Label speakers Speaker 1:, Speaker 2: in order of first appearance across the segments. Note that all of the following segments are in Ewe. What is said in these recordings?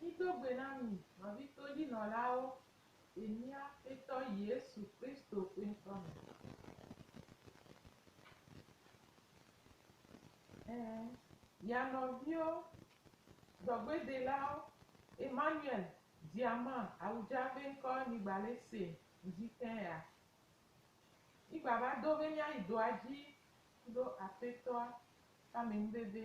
Speaker 1: Mido gbe na mi nɔvitodzinɔlawo le mía Aƒetɔ Yesu Kristo ƒe ŋkɔ me. Ẽ, via nɔviwo, dɔgbedelawo, Emmanuel Diama Awudza ƒe ŋkɔ nyi Gbalese ŋdi tẽ ya. Mí gbava do be míayi dɔa dzi kudo Aƒetɔa ƒe amenuveve.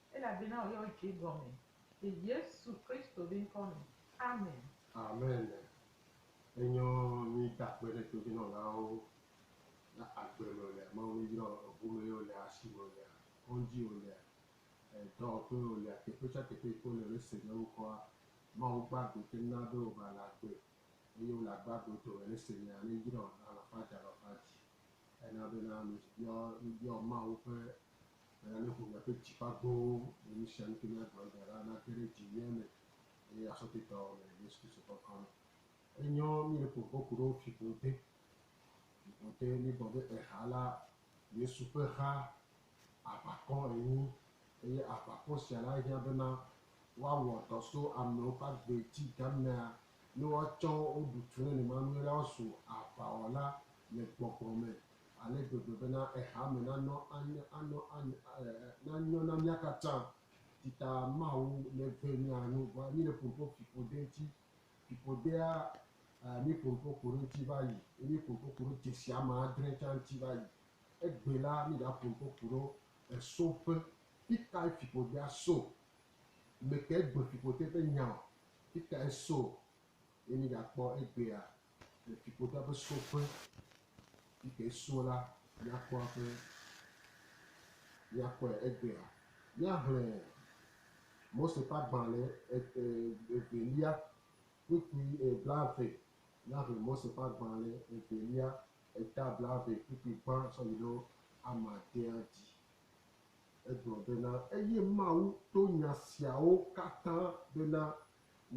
Speaker 1: Elabena wòyɔ wò dzi gɔme. Le Yesu
Speaker 2: Kristo be ŋkɔ me, amen. Amen. Enyɔ mí da kpe ɖe todzinɔlawo le agbe me wòlea, Mawu mí yɔ eŋu me ye wòlea, asi me wòlea, kɔŋdzi wòlea, dɔwɔƒe wòlea, teƒe sia teƒe yi ke wole be se nye ŋkɔa, Mawu gba agbe te na be wòva le agbe eye wòle agbe agbe wo dome le se nyea ne yrɔ le alafa dzi alafa dzi. Ena bena mí yɔ mí yɔ Mawu ƒe Eya ne ƒome ƒe dzi ƒe agbowo le nu sia nu ke míagblɔ egbe la nage ɖe edzi mía me le asɔtetɔ le Yesu Kristo ƒe ŋkɔ me. Enyɔ mí le ƒo kpɔ ku ɖo fiƒode, fiƒode míegblɔ be eha la Yesu ƒe ha aʋakɔ enyi eye aʋakɔ sia la hiã bena woawɔ dɔ so amewo ƒe agbe dzi gamea ne woatsɔ wo ɖu tu nenemanue la woazu aʋawɔla le gbɔgbɔ me ale gbegbe bena eha me nanɔ anye anɔ anye e nanyɔ na mía katã. Tita Mawu neve mía nu vɔa mí le ƒoƒo fiƒode ŋuti. Fiƒodea e mí ƒoƒo ku ɖe ŋuti va yi ye mí ƒoƒo ku ɖe dzesi ame adre tsã ŋuti va yi. Egbe la mí ɖa ƒoƒo ku ɖo esoƒe. Fikae fiƒodea so? Mekae gbe fiƒode ƒe nyaɔ? Fikae so? Ye mí ɖa kpɔ egbea Le fiƒode ƒe soƒe yi ke so la míakpɔ eƒe míakpɔe egbea. Míaxlẽ Mose ƒe agbalẽ evelia kpukpui e blaeve. Míaxlẽ Mose ƒe agbalẽ evelia eta blaeve kpukpui gbã tsɔ yi ɖo amadea dzi. Egblɔ bena, Eye Mawu to nya siawo katã bena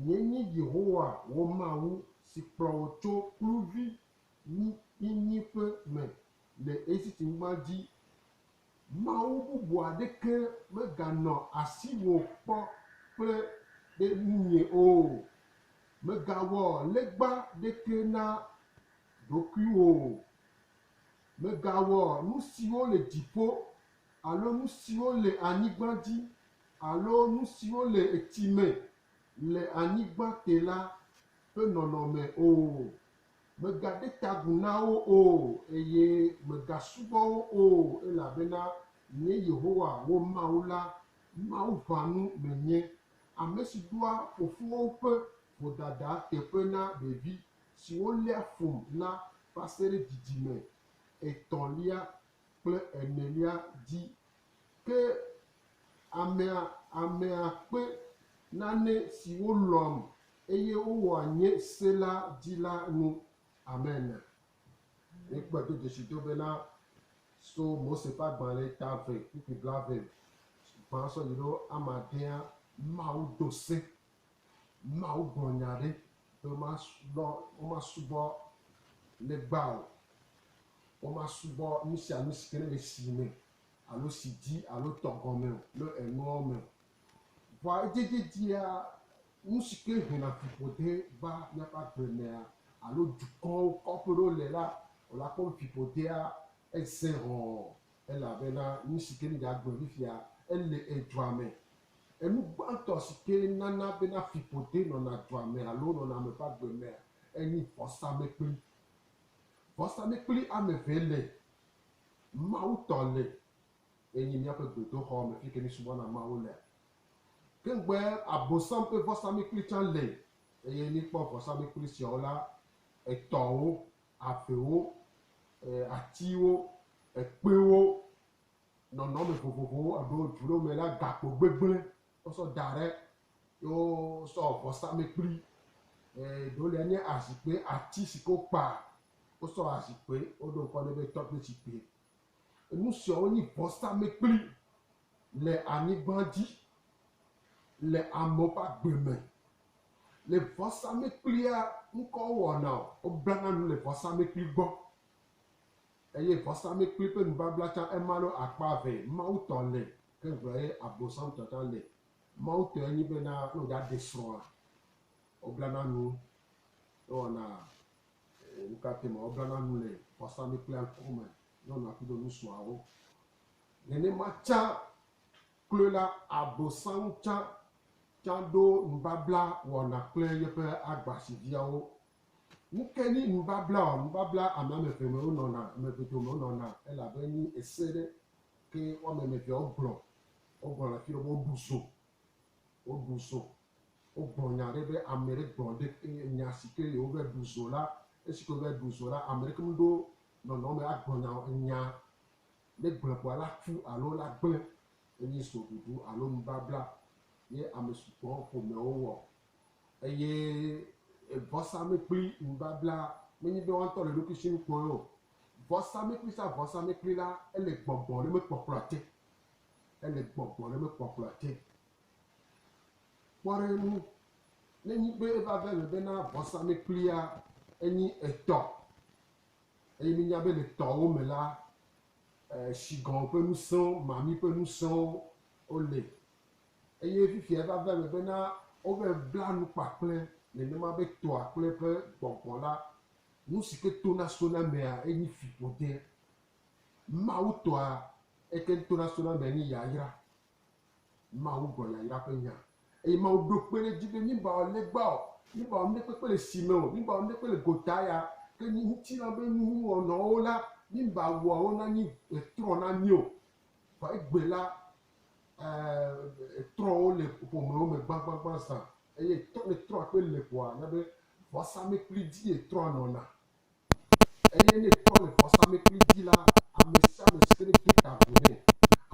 Speaker 2: Nyee nye Yehowa wò Mawu si kplɔ wò tso kluvinyenyiƒe me le Egipte-nyigba dzi. Mawu bubu aɖeke meganɔ asiwò kpɔ kple ɖe ŋunye o. Mègawɔ legba aɖeke na ɖokuiwò o. Mègawɔ nu siwo le dziƒo alo nu siwo le anyigba dzi Alo nu siwo le etsi me le anyigba te la ƒe nɔnɔme o. Mègaɖe ta agu na wo o, eye mègasubɔ wo o, elabena nye Yehowa, wò Mawu la, Mawu ʋãnu menye, ame si ɖoa fofowo ƒe vodada teƒe na ɖevi siwo léa fum la va se ɖe dzidzime etɔ̃lia kple enelia dzi Ke amea, amea kpe nane siwo lɔ̃am eye wowɔa nye se la dzi la nu. Amen. Míekpɔe do dzesido bena so Mose ƒe agbalẽ ta eve kpukpui blaeve gbã sɔ yi ɖo amadea, Mawu do se Mawu gblɔ nya ɖe be womasubɔ, womasubɔ legba o, womasubɔ nu sia nu si ke ne le si me alo si dzi alo tɔ gɔme o le enuawo me o. Vɔa edziedzedzea, nu si ke hena fiƒode va míaƒe agble mea alo dukɔwo, kɔƒe ɖewo le la, wòle akpɔ be fiƒodea eze hɔ̃ɔ Elabena nu si ke míeɖe agblɔ fifia, ele edua me. Enu gbãtɔ si ke nana bena fiƒode nɔna dua me alo nɔna ame ƒe agbe mea, enye vɔsamlekpui. Vɔsamlekpui ame eve le, Mawu tɔ le, eye míaƒe gbedoxɔ me fi yi ke míesubɔna Mawu lea. Ke ŋugbe Abosam ƒe vɔsamlekpui tsã le, eye míekpɔ vɔsamlekpui siawo la, etɔ̃wo avewo, atiwo, ekpewo, nɔnɔme vovovowo eɖo dzu ɖewo me la gakpo gbegblẽ wosɔ da ɖe ye wosɔ wɔ vɔsamlekpui. Ɖewo lia nye azikpui, ati si ke wokpa wosɔ wɔ azikpui woɖo ŋkɔ nɛ be tɔkpezikpui. Enu siawo nye vɔsamlekpui Le anyigba dzi, le amewo ƒe agbe me, le vɔsamlekpuia ŋkɔ wɔna o. Woblana nu le vɔsamlekpui gbɔ eye vɔsamlekpui ƒe nubabla tsã ema alo akpa eve. Mawu tɔ le ke ŋgblɔ ye abosam tɔ tsã le. Mawu tɔe nye be na ne wòɖa ɖe srɔ̃a, woblana nu ewɔna nukatɛ ma woblana nu le vɔsamlekpuia ŋkɔ me ne wonɔ aƒu ɖe nusuawo. Nenema tsã kloe la, Abosam tsã tsã ɖo nubabla wɔna kple yeƒe agbasidziawo. Nu kae nye nubablaa? Nubabla ame ame eve me wonɔna, ame eve dome wonɔna, elabe enye ese ɖe ke woame ame evea wogblɔ. Wogblɔ le afi ɖe be woɖu zo, woɖu zo, wogblɔ nya ɖe be ame ɖe gblɔ ɖe eye nya si ke ye wova ɖu zo la, esi ke wova ɖu zo la, ame ɖeke meɖo nɔnɔme agblɔ nya o. Enya Ne gblẽbɔa la tu alo la gblẽ, enye soɖuɖu alo nubabla ye ame sugbɔ ƒomeawo wɔ, eye vɔsamlekpui nubabla menye be woatɔ le ɖokuisinu kpɔe o. Vɔsamlekpui sa vɔsamlekpui la, ele gbɔgbɔ ɖe me kpɔkplɔa te. Ele gbɔgbɔ ɖe me kpɔkplɔa te. Kpɔ ɖe eŋu, ne nyi be eva va eme bena vɔsamlekpuia enyi etɔ Eye míenya be le tɔwo me la, shigɔn ƒe ŋusẽwo, mami ƒe ŋusẽwo wole. Eye fifia eva va eme bena wova bla nu kpakple nenema be tɔa kple eƒe gbɔgbɔ la, nu si ke tona sona emea enye fiƒode. Mawutɔa eke tona sona emea enye yayra. Mawu gbɔ yayra ƒe nya. Eye Mawu ɖo kpe ɖe edzi be míbawɔ legba o, míbawɔ nuɖekpekpe le si me o, míbawɔ nuɖekpe le gota ya, ke ŋutilã be nuwɔnɔwo la, míbawɔ wo nanyi trɔ na mí o. Vɔ egbe la, eeee, trɔ wo le ƒomewo me gbãgbãgbã zã. Eye trɔ, ne trɔa kpe le ƒoa, na be vɔsamlekpui dzie trɔa nɔna. Eye ne tɔ le vɔsamlekpui dzi la, ame sia ame si ke ne de ta agu nɛ,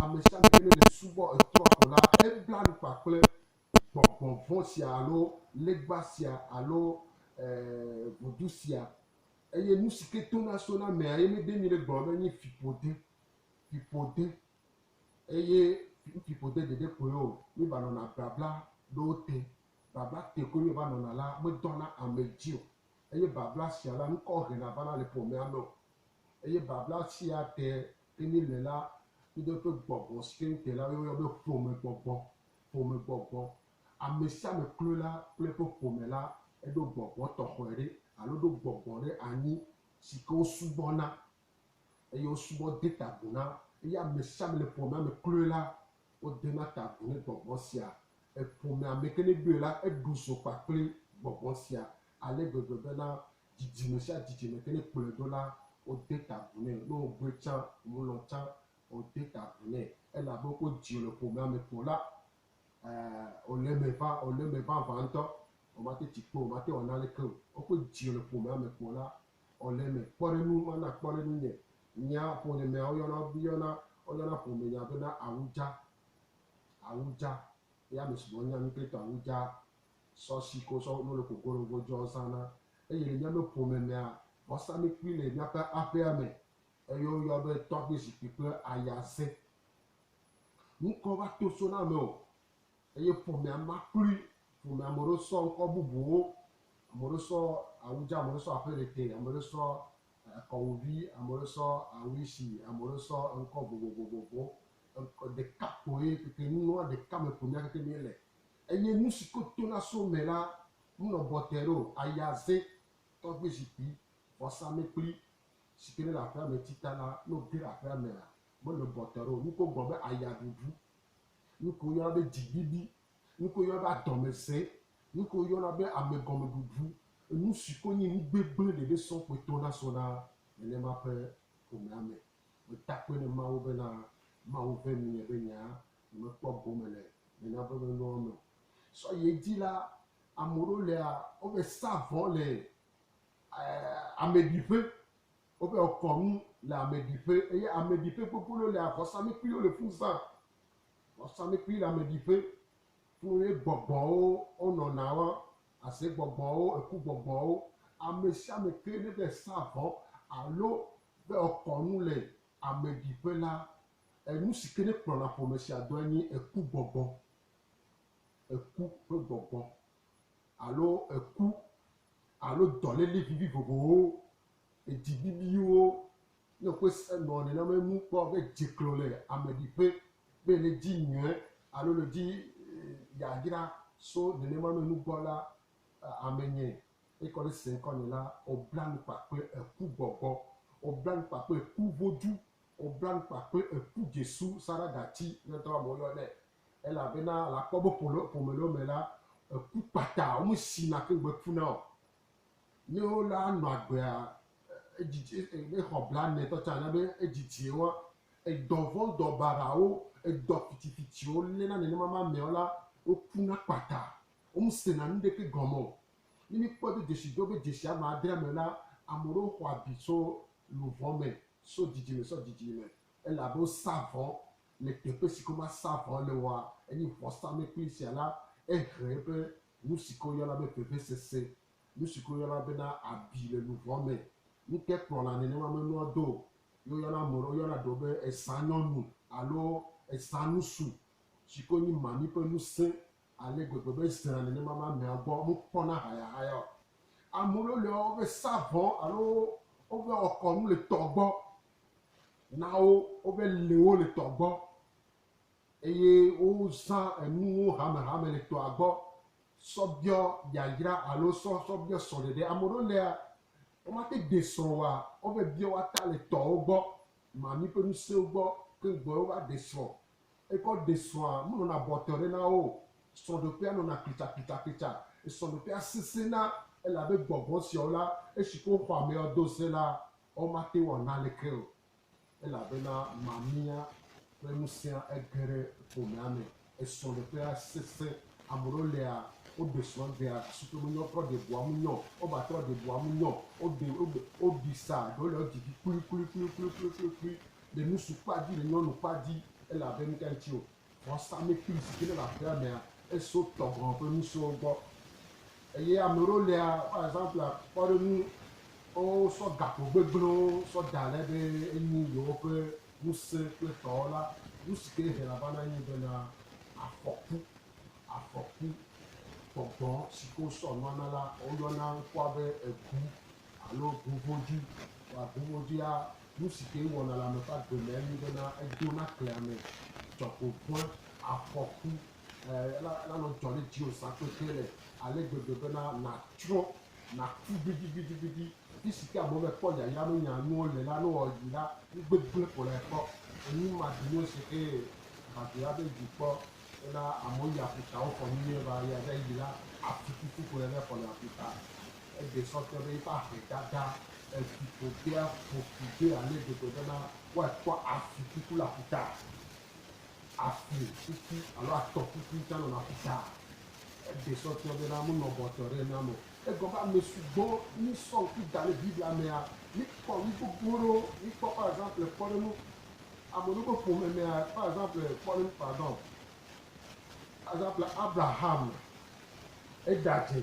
Speaker 2: ame sia ame si ke ne le subɔ etrɔ̃ ko la, ebla nu kpakple gbɔgbɔ vɔ̃ sia alo legba sia alo e ʋudu sia. Eye nu si ke tona so na amea ye míede ŋui ɖe gblɔm be enye fiƒode, fiƒode eye fiƒode ɖeɖe koe o. Míevanɔna blabla ɖewo te. Blabla te koe míevanɔna la, medɔna ame dzi o. eye babla sia la ŋkɔ hena vana le ƒomea me o, eye babla sia te ke mí le la kudo eƒe gbɔgbɔ si ke ŋutɔe la woyɔ be ƒomegbɔgbɔ, ƒomegbɔgbɔ. Ame sia ame kloe la kple eƒe ƒome la eɖo gbɔgbɔ tɔxɔe ɖe alo ɖo gbɔgbɔ ɖe anyi si ke wosubɔna. eye wosubɔ de ta agu na, eye ame sia ame le ƒomea me kloe la, wodena ta agu ne gbɔgbɔ sia. Eƒomea me ke ne ɖoe la, eɖu zo kpakple gbɔgbɔ sia ale gbegbe bena dzidzime sia dzidzime ke ne kplɔe ɖo la, wode ta agu nɛ. Ne wògbɔe tsã wòmelɔ̃ tsã wode ta agu nɛ, elabe wodzi wòle ƒomea me ko la, e, wòle eme ʋã, wòle eme ʋãʋã ŋutɔ, womate tsi kpe o, womate wòana aleke o. Wokpɔe dzi wòle ƒomea me ko la, Ɔ le mɛ kpɔɖenu ma na kpɔɖenu nye nya ƒonye mɛ ɔ yɔna yɔna ɔ yɔna ƒome nya be na awudza awudza ye ame sugbɔ nya nu klito awudza sɔ si ko sɔ no le ko golo go djɔ zana eye le miame ƒome mɛa wa sa mi kpui le miaƒe aƒea mɛ eye wo yɔ be tɔgbe zikpui kple ayaze ŋkɔ va to so na ame o Eye ƒomea ma kloe, ƒomea ame ɖewo sɔ ŋkɔ bubuwo, ame ɖewo sɔ awu dza, ame ɖewo sɔ aƒe ɖete, ame ɖewo sɔ kɔwu vi, ame ɖewo sɔ awu si, ame ɖewo sɔ ŋkɔ vovovovowo, ŋkɔ ɖeka koe keke nua ɖeka me ƒomea keke mi le. Eye nusi ke tona so me la me nɔ bɔtɛ ɖeo, ayaze, tɔgbe zikpui, vɔsa mekpli, si ke ne le aƒea me tita la, ne wo ge ɖe aƒea mea, me nɔ bɔtɛ ɖeo, nuke wo gblɔ be aya ɖuɖu, Nuke woyɔna be dziɖuɖu, nuke woyɔna be adɔmesẽ, nuke woyɔna be amegɔmeɖuɖu, enusi ko nye nu gbegblẽ ɖeɖe sɔ kpoe to nasɔ na nenema ƒe ƒomea me. Meda akpe na Mawu bena Mawu ve nuye be nya nyemekpɔ gome le nena ƒe menuawo me o. Sɔ yi edzi la, ameɖewo lea, wove saa vɔ le ameɖiƒe Woƒe kɔnu le ameɖiƒe, eye ameɖiƒe kpokpolo le vɔsamlekpuiwo le fu zã. Vɔsamlekpui le ameɖiƒe, fũ ye gbɔgbɔwo wonɔna wan, aze gbɔgbɔwo, eku gbɔgbɔwo. Ame sia ame ke ne be sa vɔ alo be ekɔ nu le ameɖiƒe la, enu si ke ne kplɔna ƒome sia dɔe nye eku gbɔgbɔ, eku ƒe gbɔgbɔ alo eku alo dɔléle vivivovowo Edibibiwo ne ƒe se nɔ nenema enu kpɔ be dzeklɔ le ame ɖi ƒe be le dzi nyɛ alo le dzi yayra so nenema me nugbɔ la ame nyɛ ekɔ le se ŋkɔ nɛ la obla nu kpa kple eku gbɔgbɔ obla nu kpa kple eku vodzu obla nu kpa kple eku dzesu sara gati ne ŋtɔ ame woyɔ nɛ ele abe na la kpɔ be ƒome le wome la eku kpata wome si na ke ŋgbe ku nao Ne wo la nɔ agbea edzidzi exɔ blanɛ tɔ tsa na be edzidzi wo edɔ vɔn dɔ barawo edɔ fitfitwo lé na nenema ma mɛ wo la wo ku na kpata wo mu se na nu ɖeke gɔme o ne mi kpɔ do dzesi do be dzesi ama adre mɛ la ame ɖewo xɔ abi so luvɔ mɛ so dzidzi mɛ so dzidzi mɛ ele abe wo sa vɔ le teƒe si ke ma sa vɔ le woa enyi vɔ sa mɛ kpli sia la ehe eƒe Nu si ke woyɔna be vevesese, nu si ke woyɔna bena abi le luʋɔ me, ŋutekplɔla nenema menɔa do o, ye woyɔna ame ɖewo yɔna ɖewo be esãnyɔnu alo esãnusu si ke wonyi mami ƒe nu sẽ ale gbegbe be ezena nenema be amea gbɔ mekpɔna hayahaya o. Ame ɖewo li wova sa vɔ alo wova wɔ kɔnu le tɔ gbɔ na wo, wova lé wo le tɔ gbɔ. Eye wozã enuwo hamehame le tɔa gbɔ sɔ biɔ yayra alo sɔ sɔ biɔ srɔ̃ɖeɖe. Ame ɖewo lea, womate de srɔ̃ oa, wove biɔ woata le tɔwo gbɔ, mami ƒe nusewo gbɔ keŋ gbɔe wova de srɔ̃. Ekɔ de srɔ̃a, menɔna bɔtɔe ɖe na wo o. Srɔ̃ɖeƒea nɔna klitsaklitzakitsa. Srɔ̃ɖeƒea sesẽna elabe gbɔgbɔ siawo la, esi ke woxɔ ameawo do se la, womate wɔ naneke o. Elabena mamia ƒe ŋusẽa ege ɖe ƒomea me, esrɔ̃ɖeƒea sesẽ. Ame ɖewo lia, woɖe srɔ̃gbea gake wo menyɔ trɔ ɖe ʋua ŋu nyɔ o. Wova trɔ ɖe ʋua ŋu nyɔ o. Woɖi sa ɖewo le wo dzi dzi kplikplikplikplikplikplikpli. Le ŋutsu kpa dzi le nyɔnu kpa dzi elabe nuka ŋuti wò? Vɔsamlekpui si ke ne le aƒea mea, eso tɔ gɔ̃ ƒe ŋusẽwo gbɔ. Eye ame ɖewo lia, par exemple, akpɔ ɖe ŋu wosɔ gakpo gbegblẽwo sɔ da ɖe be enyi yewoƒe ŋusẽ kple tɔwo la, nu si ke hena vana nye bena afɔku, afɔku. Tɔ gɔ̃ si ke wosɔ nua na la, woyɔna ŋkua be egu alo guŋvodui. Vɔa guŋvoduia, Nu si kee wɔna le ame ƒe agbe me enye bena edo nakle ame tsɔ ko ƒe afɔku eh, la, lanɔ dzɔ ɖe dziwò zã kpekpe le ale gbegbe bena nàtsrɔ̃, nàku gbidigbidigbidi. Afi si ke amewo mekpɔ yayra menya nuwo le la, ne wòwɔ yi la, nugbegblẽ ko lae kpɔ. Enyi maɖi nu si ke va dzro la be dzi kpɔ. Ena amewo yi aƒutawo fɔ nu nyuie va eya ɖe yi la atu kuku ƒo ɖe ne fɔ le aƒuta. Egbee sɔ te be yiƒe aƒe dada efi ƒoƒea ƒo ƒu ɖoe ale gbegbe bena woatsɔ afi kuku le aƒuta. Afi kuku alo atɔ kuku tsã nɔna aƒuta. Egbee sɔ te bena menɔ bɔtɔ ɖe enam o. Egɔ be ame sugbɔ mi sɔ ŋku da ɖe Biblia mea, mi kpɔ nu gbogbo ɖewo. Mi kpɔ par exemple kpɔɖeŋu. Ame ɖewo ƒe ƒome mea, par exemple, kpɔ ɖe ŋu pardon, par exemple, Abraham, eda dze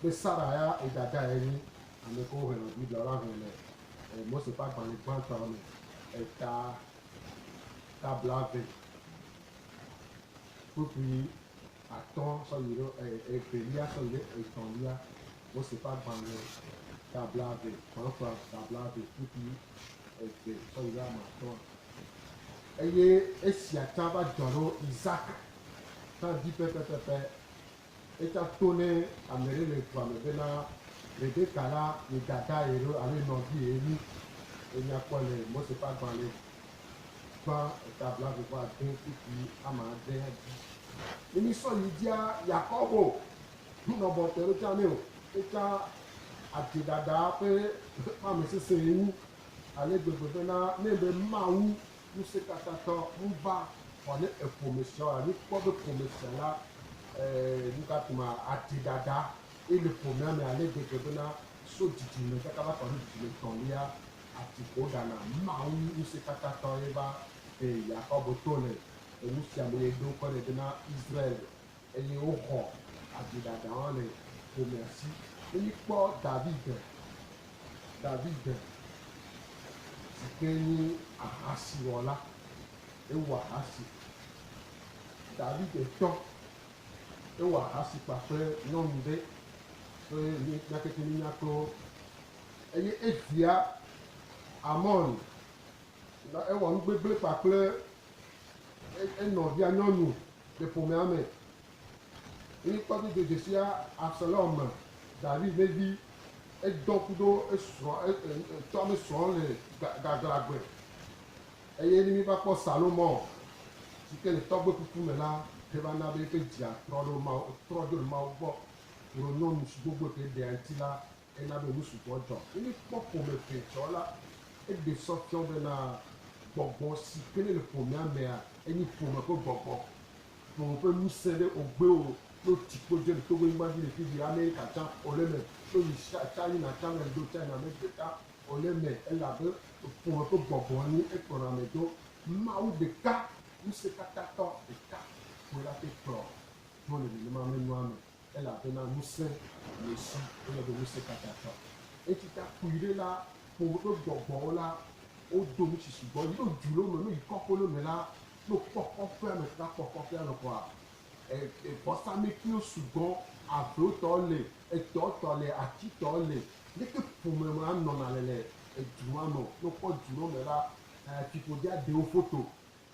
Speaker 2: be Sara ya yi dada ye nyi. Ame kewo ŋlɔ Biblia la ŋlɔe le Mose ƒe agbalẽ gbãtɔa me, eta, ta blaeve kpukpui atɔ̃ sɔ yi ɖe e, evelia sɔ yi ɖe etɔ̃lia, Mose ƒe agbalẽ ta blaeve, Xɔlɔxɔa ta blaeve ƒu ɖi eve sɔ yi ɖe ame atɔ̃a. Eye esia tsã va dzɔ ɖo Isak tsã dzi pɛpɛpɛpɛ. Etsã to ne ame ɖe le dua me bena Rebeka la ye dadae ɖo alo ye nɔvie ye nyi. Enya kpɔ le Mose ƒe agbalẽ Kpa eta blaeve vɔ ade kpukpui ame ade dzi. Ne mi sɔ yi dzia Yakobo ŋu nɔ bɔ te ɖo tsa nɛ o, etsa adze ɖaɖa ƒe ame sese ŋu ale gbegbe be na ne be Mawu ŋusekatatɔ ŋu va xɔ ne eƒome sia o alo kpɔ be ƒome sia la e nukake ma adze ɖaɖa eye le ƒomea me ale gbegbe be na so dzidzi me kaka va kɔ ɖo dzidzi me tɔlia ati ƒo ɖa na Mawu ŋusẽkatãtɔe va, eye Yakobo to nɛ, le nu sia me eye do ŋkɔe nɛ bena Israel, eye woxɔ aviɖaɖa hã le ƒomea si. Ne míkpɔ David, David si ke nye ahasiwɔla, ewɔ ahasi, David tɔ, ewɔ ahasi kpakple nyɔnu ɖe, so nyateƒe mínya kpɔ. Eye edia Amon, gake ewɔ nu gbegblẽ kpakple enɔvia nyɔnu le ƒomea me. Eye kpɔ do dodzesia Absalom me, David ƒe vi, edɔ ku ɖo esrɔ̃, etsɔ ame srɔ̃ le gaglãgbe. Eye ne míva kpɔ Salomɔ, si ke le tɔgbe kuku me la, eva na be eƒe dzia trɔ ɖo Mawu, trɔ dzo le Mawu gbɔ, wòɖo nyɔnu si gbogboe ke ɖea eŋuti la Ena be nu sugbɔ dzɔ. Ne míekpɔ ƒome ʋɛ tsɔ la, eɖe sɔ fiɔ bena gbɔgbɔ si ke nele ƒomea mea, enye ƒome ƒe gbɔgbɔ. Ƒome ƒe ŋusẽ ɖe wògbe o. Ne wotsi kpo dze le Togo nyigba dzi le fifia, Amerika tsã wòle eme, Indonesia, China tsã le ŋdo, China me gbe tsã wòle eme, elabe ƒome ƒe gbɔgbɔ enye ekplɔna ame do. Mawu ɖeka, Ŋusẽkatãtɔ ɖeka koe ate kplɔ do le nenema me nua me. elabena ŋusẽ le esi wòle be Ŋusẽkatãtɔ. Esi ta kpui ɖe la, kpɔ woɖo gbɔgbɔwo la, wodo nusi sugbɔ yi ɖo dzu lo me lo yi kɔƒe lo me la, no kpɔ kɔƒea me ta kpɔ kɔƒea me kɔa, e, e, vɔsametiwo sugbɔ, avewo tɔ le, etɔ tɔ le, ati tɔ le, leke ƒome ma nɔna le le edzu ma me o. No kpɔ dzu lo me la, e, fiƒode aɖe wo foto.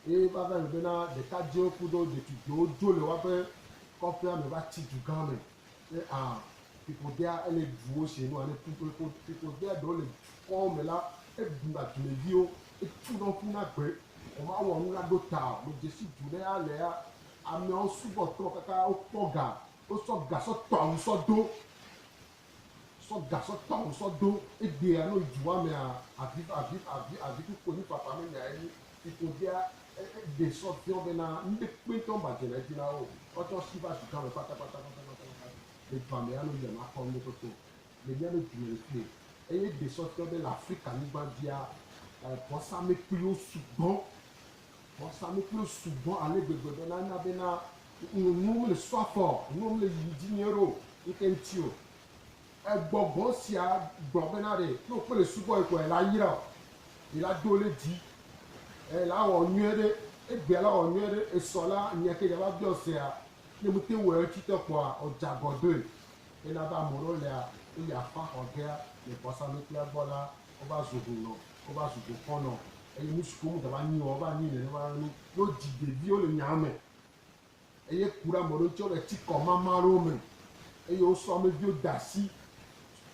Speaker 2: Eye va va eme bena ɖekadzɛwo kudo ɖetugbiwo dzo le woaƒe kɔƒea me va tsi dugã me. Be a fiƒodea ele ɖuwo se no ane ku kple kod fiƒodea ɖewo le dukɔwo me la, eɖuna dumeviwo, etuna wo ƒuna gbe, vɔ mawɔ nu la ɖo ta o. Medzesi du ɖe alea ameawo subɔ trɔ kaka wokpɔ ga, wosɔ ga sɔ tɔ awu sɔ do. Sɔ gasɔ tawo sɔ ɖo egbea no yi dua mea avi avi avi avi kuku enyi fafa me nya enyi iko dea eɖe sɔ diɔ bena nuɖe kpe ŋtɔ ŋba dze na edzi na wo wa tsɔ si va dugã me kpata kpata kpata kpata kpata le dua me ya no yia ma kɔ nuɖe kpekpe o le mia no dume le kpe eye eɖe sɔ diɔ be le afrika nyigba dzia vɔsa mekpli wo sugbɔ. Vɔsanu kple subɔ ale gbegbe be nana bena nuwo mele su afɔ o, nuwo mele yiyim dzi nyuie ɖe o ŋkeke ŋuti o. Egbɔgbɔ sia gblɔ bena ɖe ne wokpe le subɔ ye koa, ye la yra o, ye la do le dzi, ye la wɔ nyuie ɖe, egbea la wɔ nyuie ɖe. Esɔ la nya ke dzava biɔ sea, ne mete wɔe ŋuti te kpɔa, ɔdze agɔ doe. Ena be ame ɖewo lea, ne yi aƒa xɔ gea le vɔsanuiƒlea gbɔ la, wova zu hunɔ. Wova zu dukɔ nɔ eye nusi ƒom dava anyi o wova anyi nenema ɖe nu ne wodzi ɖeviwo le nyaa me eye ku ɖe ame ɖewo ŋuti wole eti kɔ mama ɖewo me eye wosɔ ame viwo de asi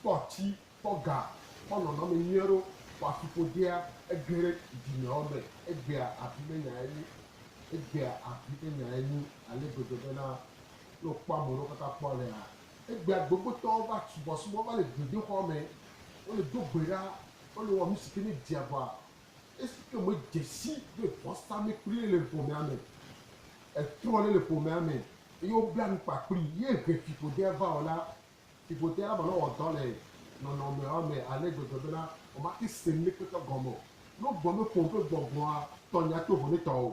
Speaker 2: kpɔ atsi kpɔ ga kpɔ nɔnɔme nyuie ɖewo kpɔ afi ƒodea ege ɖe dzimeawo me egbea abi ƒe nya enyi egbea abi ƒe nya enyi ale gbegbe be na ne wokpɔ ame ɖewo kaka kpɔ alea egbea gbegbotɔwo va subɔsubɔ va le gbedoxɔa me wole do gbe ɖa Wole wɔ nusi ke ne dzi agbɔa, esi ke me dze si be vɔsame kplie le ƒomea me. Etrɔ le le ƒomea me eye wobla nu kpa kplii ye he fiƒodea va o la, fiƒodea la manɔ wɔ dɔ le nɔnɔmea me ale gbegbe bena womate se nuɖekpekpe gɔme o. Ne wogblɔ be ƒom ƒe gbɔgbɔa tɔ nya to vo ne tɔ o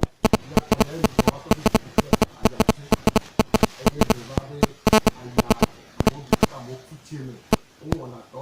Speaker 2: la, tɔ yae nyi xɔlɔ̃tɔ ƒe dziku ƒe ayamese. Eye ɖe va be aya amewo dometɔ aɖewo ku tsie me, wowɔna dɔ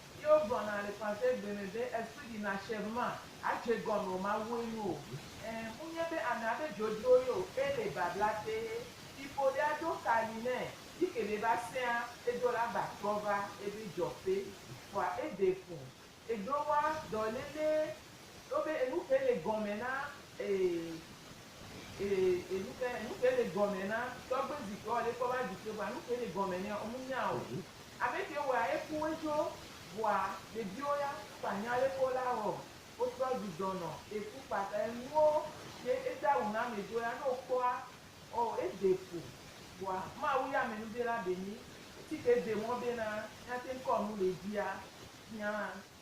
Speaker 1: Ye wogblɔ na Alexandre gbe me be esu ɖi na Sherman adze gɔn o Mawue nu o ɛ munye be ana be djodjo yo e le babla tee yi fo ɖe aɖo ka li nɛ yi ke ɖe va sɛa edo la gba trɔ va ebe djɔƒe fua ede fun eɖo wa dɔ lele Ɖo be enu kae le gɔme na ee, ee, enu kae, enu kae le gɔme na tɔgbe zi keɔ ɖe kpɔ be aɖi ke vɔa nu kae le gɔme nɛ ɔ mu nya o. Abe ke wɔa eku woezo vɔa ɖeviwo ya kpa nya ɖe kpɔ la ɔ wo trɔ ɖu dɔ nɔ eku kpata enuwo ke ede awu na ame do ya ne wo kpɔa ɔ ede fu vɔa Mawu ya amenuɖe la be nyi. Esi ke ede mɔ be na mia te ŋkɔ nu le dzia mia